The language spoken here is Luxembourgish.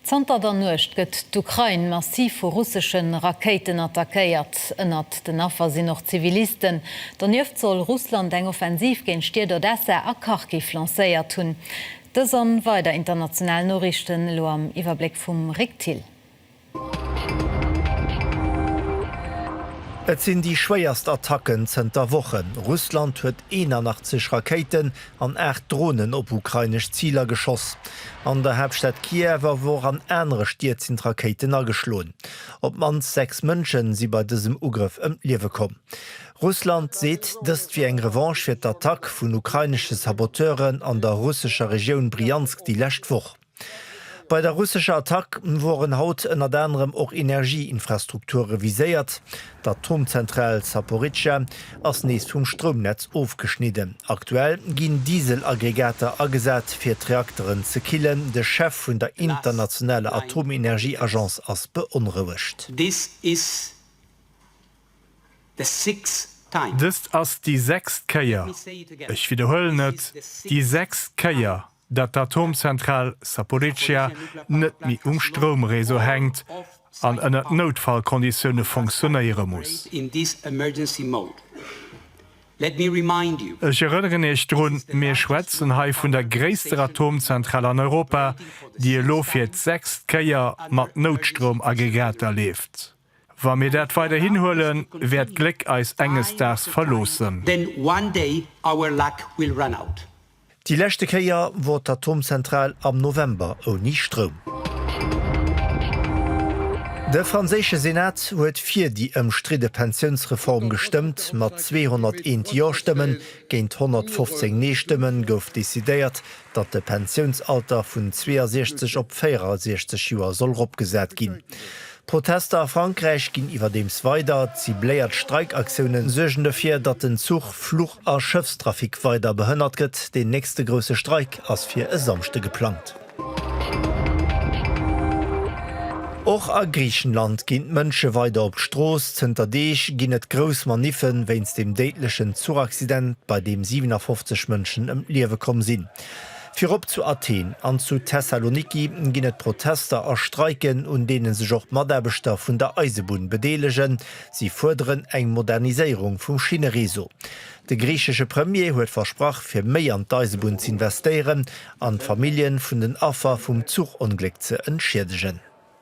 Zanter der Nuecht gëtt d'Ukrain massiv vu russesche Rakéiten attackéiert. Ënnert den Affer sinn och Zivilisten. Donieft soll Russland eng Offensiv géint d'Stied Odessa a Kharkiv lancéiert hunn. Dës an weider international Noriichten elo am Iwwerbléck vum Rick Thill. Et sinn déi schwéierst Attacken zënter Wochen. Russland huet 81 Rakéiten an aacht Dronen op ukrainesch Ziler geschoss. An der Haaptstad Kiew awer och an anere Stied sinn d'Rakéiten ageschloen. Op d'mannst sechs Mënschen si bei dësem Ugrëff ëm d'Liewe komm. Russland seet, dëst wier eng Revanche fir d'Attack vun ukrainesche Saboteuren an der russescher Regioun Bryansk déi lescht Woch. Bei der russescher Attack woren haut ënnert anerem och Energieinfrastrukture viséiert. D'Atomzentral Zaporizhzhia ass nees vum Stroumnetz ofgeschnidden. Aktuell ginn Dieselaggregater agesat, fir d'Reakteren ze killen. De Chef vun der internationaler Atomenergieagence ass beonrouegt. Dëst ass déi sechst Kéier, ech widderhuelen et, déi sechst Kéier, datt d'Atomzentral Zaporizhzhia net méi um Stroumréseau hänkt an ënnert Noutfallkonditioune funktionéiere muss. Ech erënneren Iech drun, mir schwätzen hei vun der gréisster Atomzentral an Europa, déi elo fir d'sechst Kéier mat Noutstroumaggregater leeft. Wa mir dat weiderhin huelen, wäert d'Gléck eis enges Daags verloossen. Then one day our luck will run out. Déi leschte Kéier wor d'Atomzentral am November ouni Stroum. De franséische Senat huet fir déi ëmstridde Pensiounsreform gestëmmt. Mat 201 Jo-Stëmmen géint 115 Nee-Stëmmen gouf decidéiert, datt de Pensiounsalter vun 62 op 64 Joer soll eropgesat ginn. D'Protester a Frankräich ginn iwwerdeems weider. Cibléiert Streikaktiounen suergen dofir, datt den Zuch-, Fluch a Schëffstrafic weider behënnert gëtt. Deen nächste grousse Streik ass fir e Samschde geplangt. Och a Griichenland ginn d'Mënsche weider op d'Strooss. Zënter Deeg ginn et grouss Maniffe wéinst dem déidlechen Zuchaccident, bei deem 57 Mënschen ëm d'Liewe komm sinn. Virop zu Athen an zu Thessaloniki ginn et Protester a Streiken, un deene sech och d'Mataarbechter vun der Eisebunn bedeelegen. Si fuerderen eng Moderniséierung vum Schinnereseau. De griichesche Premier huet versprach, fir méi an d'Eisebunn z'investéieren an d'Famillje vun den Affer vum Zuchongléck ze entschiedegen.